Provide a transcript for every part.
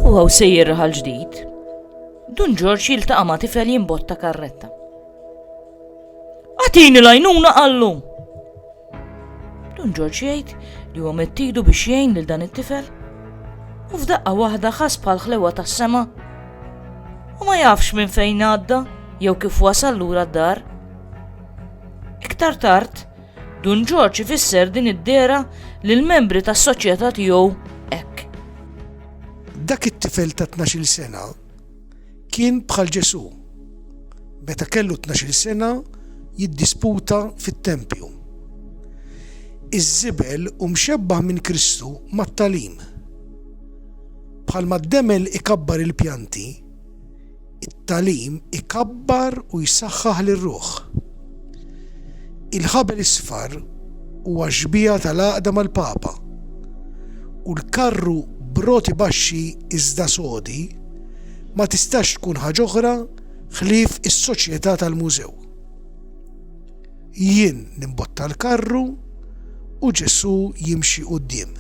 U għaw sejjer raħal ġdid, Dun Ġorġ jiltaqa' ma' tifel jimbotta karretta. Għatini lajnuna għallu! Dun Ġorġ jgħid li huwa mettidu biex jgħin lil dan it-tifel u f'daqqa waħda ħas bħal ħlewa tas-sema u ma jafx minn fejn għadda jew kif wasal lura d-dar. Iktar tard, Dun Ġorġ ifisser din id-dehra lill-membri tas-soċjetà tiegħu hekk. Dak it-tifel ta' tnax-il sena kien bħal Ġesù. Meta kellu tnax-il sena jiddisputa fit-tempju. Iż-żibel hu mxebbah minn Kristu mat-tagħlim. Bħalma d-demel ikabbar il-pjanti, It-tagħlim ikabbar u jsaħħaħ lir-ruħ. Il-Ħabel Isfar huwa xbieha tal-għaqda mal-Papa, u l-karru b'roti baxxi iżda sodi ma tistax tkun ħaġ'oħra ħlief is-soċjetà tal-mużew. Jien nimbotta l-karru u Ġesù jimxi quddiem.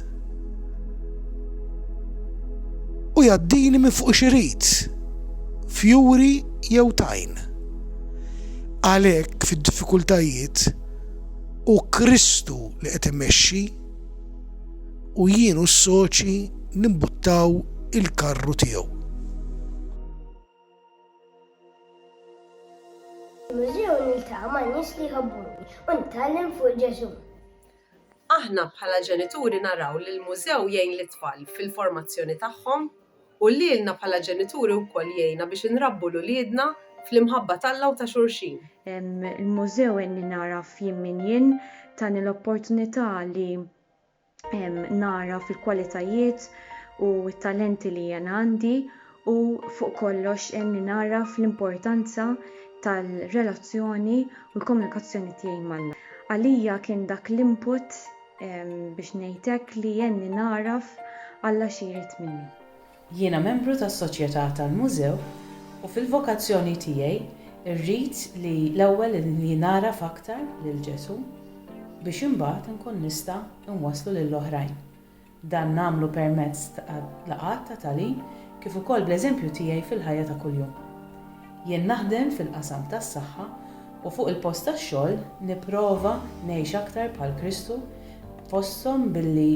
U jaddini minn fuq xirid, fjuri jew tajn. Għalhekk fid-diffikultajiet u Kristu li qed imexxi u jien u s-soċi nimbuttaw il-karru tiegħu. Fil-mużew niltaqa' ma' nies li jħobbuni u nitgħallem fuq Ġesù. Aħna bħala ġenituri naraw li l-mużew jgħin lit-tfal fil-formazzjoni tagħhom u lilna bħala ġenituri wkoll jgħinna biex inrabbu 'l uliedna fl-imħabba t'Alla u ta' xulxin. Il-mużew għenni nagħraf jien min jien, tani l-opportunità li nara fil-kwalitajiet u t-talenti li jiena għandi u fuq kollox għenni nagħraf l-importanza tal-relazzjoni u l-komunikazzjoni tiegħi ma' Alla. Għalija kien dak l-input biex ngħid hekk li għenni nagħraf Alla xi jrid minni. Jiena membru tas-Soċjetà tal-Mużew u fil-vokazzjoni tiegħi rrid li l-ewwel li nagħraf aktar lil Ġesù biex imbagħad inkun nista' inwasslu lil oħrajn. Dan nagħmlu permezz ta' laqgħat ta' tagħlim kif ukoll bl-eżempju tiegħi fil-ħajja ta' kuljum. Jien naħdem fil-qasam tas-saħħa u fuq il-post tax-xogħol nipprova ngħix aktar bħal Kristu fosthom billi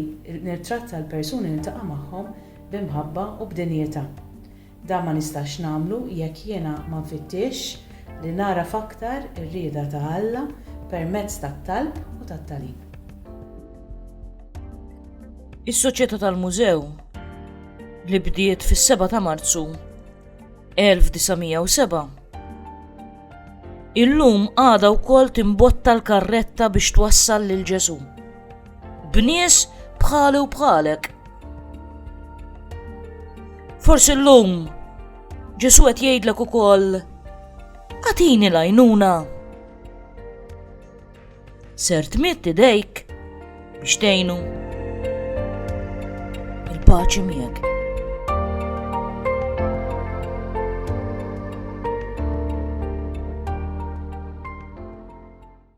nittratta l-persuni li niltaqa' magħhom b'imħabba u b'dinjità. Dan ma nistax nagħmlu jekk jiena ma nfittixx li nagħraf aktar ir-rieda ta' Alla permezz tat-talb u tat-tagħlim. Is-Soċjetà tal-Mużew, li bdiet fis-7 ta' Marzu 1907, illum għadha wkoll timbotta l-karretta biex twassal lil Ġesù. b'nies bħali u bħalek. Forsi l-lum, ġesu għet jgħidlek u koll, għatini lajnuna. Ser tmitt idejk biex tejnu. Il-paċi miegħek.